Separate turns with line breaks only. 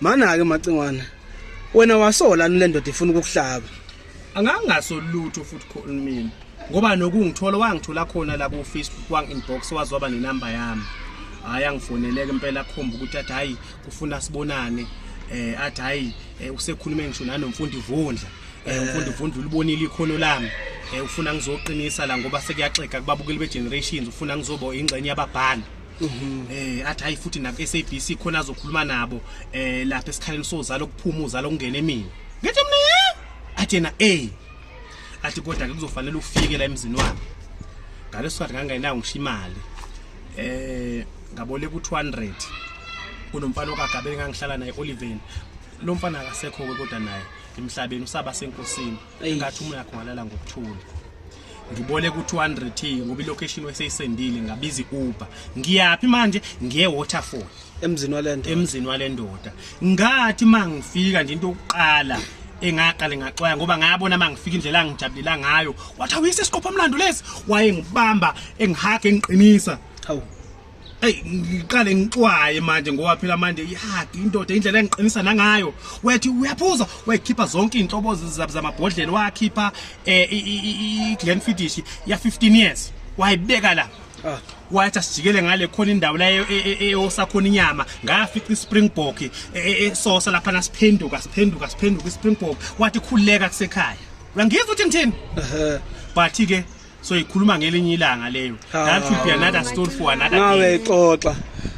Mana-ke Macingwana, wena wasola le ndoda ifuna ukukuhlaba. Angangaso
lutho futhi khona mina. Ngoba nokungithola wangithola khona la ku Facebook wang inbox wazoba nenamba yami. Hayi angifoneleke impela akhomba ukuthi athi hayi kufuna sibonane. Eh athi hayi eh, usekhulume ngisho nanomfundi Vundla. Eh umfundi Vundla ulibonile ikhono lami. Eh ufuna ngizoqinisa la ngoba sekuyaxega kubabukeli be generations ufuna ngizoba ingxenye yababhali. Mhm. eh athi hayi futhi naku SABC khona azokhuluma nabo eh lapha esikhaleni sozalo kuphuma uzalo kungene mina ngithi mina ye athi yena eh athi kodwa ke kuzofanele ufike la emzini wami ngaleso sikhathi ngangenayo ngisho imali eh ngaboleka u200 kunomfana okagabele ngangihlala naye Oliven lo mfana akasekho ke kodwa naye emhlabeni usaba senkosini engathi umoya yakho ngalala ngokuthula ngiboleka u-200 t ngoba ilocation weseyisendile ngabiza i-uber ngiyaphi manje ngiye waterfall emzini walento emzini walendoda ngathi mangifika nje into yokuqala engaqale ngaxwaya ngoba ngayabona mangifika indlela angijabulela ngayo wathi awuyise isiqopha umlando lesi waye ngibamba engihaga engiqinisa hawu
Hey
ngiqale ngixwaye manje ngoba phela manje ihadi indoda indlela engiqinisa nangayo wethi uyaphuza wayikhipha zonke izinhlobo zamabhodlela wakhipha eh i Glenfiddich ya 15 years wayibeka la ah. wathi asijikele ngale khona indawo la e, e, e, eyosakhona inyama ngafica ispringbok esosa lapha nasiphenduka siphenduka siphenduka ispringbok wathi khuleka kusekhaya uyangizwa ukuthi ngithini but ke so ikhuluma ngelinye ilanga leyo that would be another story for another day.
Nawe
xoxa.